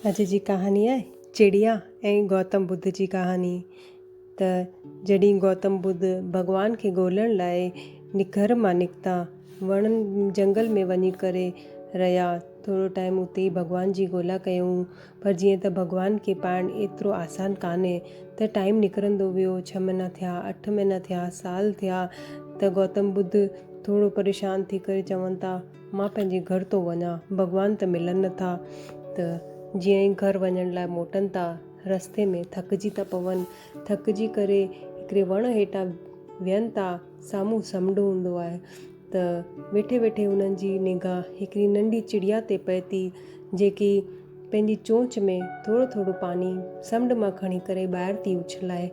اڄ جي ڪهاڻي آهي چڙيا ۽ گوتم ٻڌ جي ڪهاڻي ته جڏهن گوتم ٻڌ ڀڳوان کي ڳولڻ لاء گهر مان نڪتا وڻ جهنگل ۾ وڃي ڪري رهيا ٿورو ٽائيم اتي ڀڳوان جي ڳولا ڪيائون پر جيئن ته ڀڳوان کي پائڻ ايترو آسان ڪانهي ته ٽائيم نڪرندو ويو ڇهه مهينا ٿيا اٺ مهينا ٿيا سال ٿيا ته گوتم ٻڌ ٿورو پريشان ٿي ڪري چون ٿا مان پنهنجي گهر ٿو وڃان. ڀڳوان ته ملن نٿا ته جيئن ئي گهر وڃڻ لاء موٽن ٿا، رستي ۾ ٿڪجي ٿا پون. ٿڪجي ڪري هڪڙي وڻ هيٺان ويهن ٿا. سامهون سمنڊ هوندو آهي ته ويٺي ويٺي هنن جي نگاهه هڪڙي ننڍي چڙيا تي پئي ٿي، جيڪي پنهنجي چونچ ۾ ٿورو ٿورو پاڻي سمنڊ مان کڻي ڪري ٻاهر ٿي اڇلائي.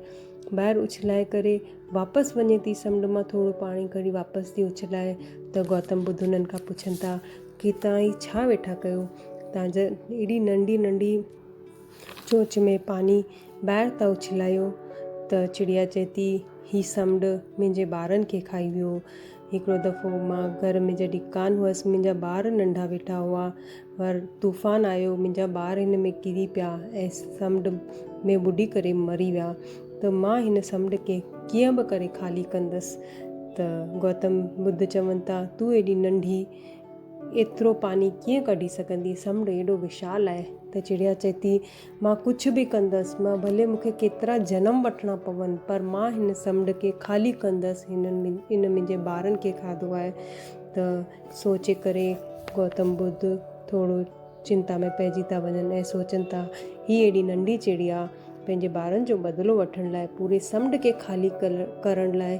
ٻاهر اڇلائي ڪري. واپس وڃي ٿي سمنڊ مان ٿورو پاڻي کڻي واپس ٿي اڇلائي ته گوتم ٻڌ انهن کان پڇن ٿا ڪي توهان هي ڇا ويٺا ڪيو توهان جا ايڏي ننڍي ننڍي چونچ ۾ پاڻي ٻاهر ٿا اڇلايو ته چڙيا چئي ٿي هي سمنڊ منهنجي ٻارن کي کائي ويو هڪڙو دفعو مان گهر ۾ جڏهن ڪانه هئس، منهنجا ٻار ننڍا ويٺا هئا، پر طوفان آيو، منهنجا ٻار هن ۾ ڪري پيا ۽ سمنڊ ۾ ٻڏي ڪري مري ويا ته مان هن سمنڊ کي ڪيئن به ڪري خالي ڪندس ته گوتم ٻڌ چون ٿا تون ايڏي ننڍي ايترو پاڻي ڪيئن ڪڍي سگهندي سمنڊ ايڏو وشال آهي ته چڙيا چئي ٿي مان ڪجهه به ڪندس، مان ڀلي مون کي ڪيترا جنم وٺڻا پون، پر مان هن سمنڊ کي خالي ڪندس، هن ان منهنجي ٻارن کي کاڌو آهي ته سوچي ڪري گوتم ٻڌ ٿورو چنتا ۾ پئجي ٿا وڃن ۽ سوچن ٿا هي ايڏي ننڍي چڙيا پنهنجي ٻارن جو بدلو وٺڻ لاء پوري سمنڊ کي خالي ڪرڻ لاء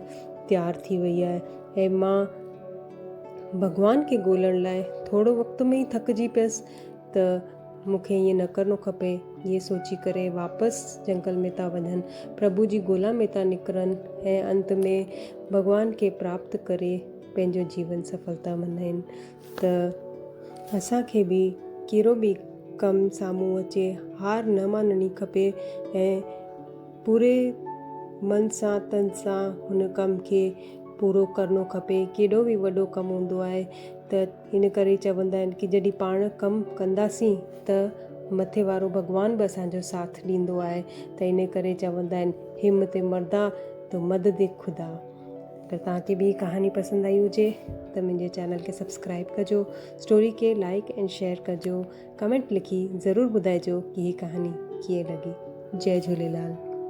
تيار ٿي وئي آهي ۽ مان ڀڳوان کي ڳولڻ لاء ٿورو وقت ۾ ئي ٿڪجي پيس ته مون کي ائين نه ڪرڻو کپي. ائين سوچي ڪري واپس جنگل ۾ ٿا وڃن، پرڀو جي ڳولا ۾ ٿا نڪرن ۽ انت ۾ ڀڳوان کي پراپت ڪري پنهنجو جيون سڦل ٿا ملهائين ته اسان کي به ڪهڙو به ڪم سامهون اچي هار نه مانڻي کپي ۽ پوري من سان تن سان هن ڪم کي پورو ڪرڻو کپي ڪهڙو به وڏو ڪم هوندو آهي ته ان ڪري چوندا آهن ڪي جڏهن پاڻ ڪم ڪنداسين ته مٿي وارو ڀڳوان به اسان جو ساٿ ڏيندو آهي ته ان ڪري چوندا آهن همت مردا تو مدد خدا. اگر توهان کي به هي ڪهاڻي پسند آئي هجي ته منهنجي چينل کي سبسڪرائب ڪجو اسٽوري کي لائڪ ۽ شيئر ڪجو ڪمينٽ لکي ضرور ٻڌائجو ڪي هي ڪهاڻي ڪيئن لڳي جئي جهوليلال.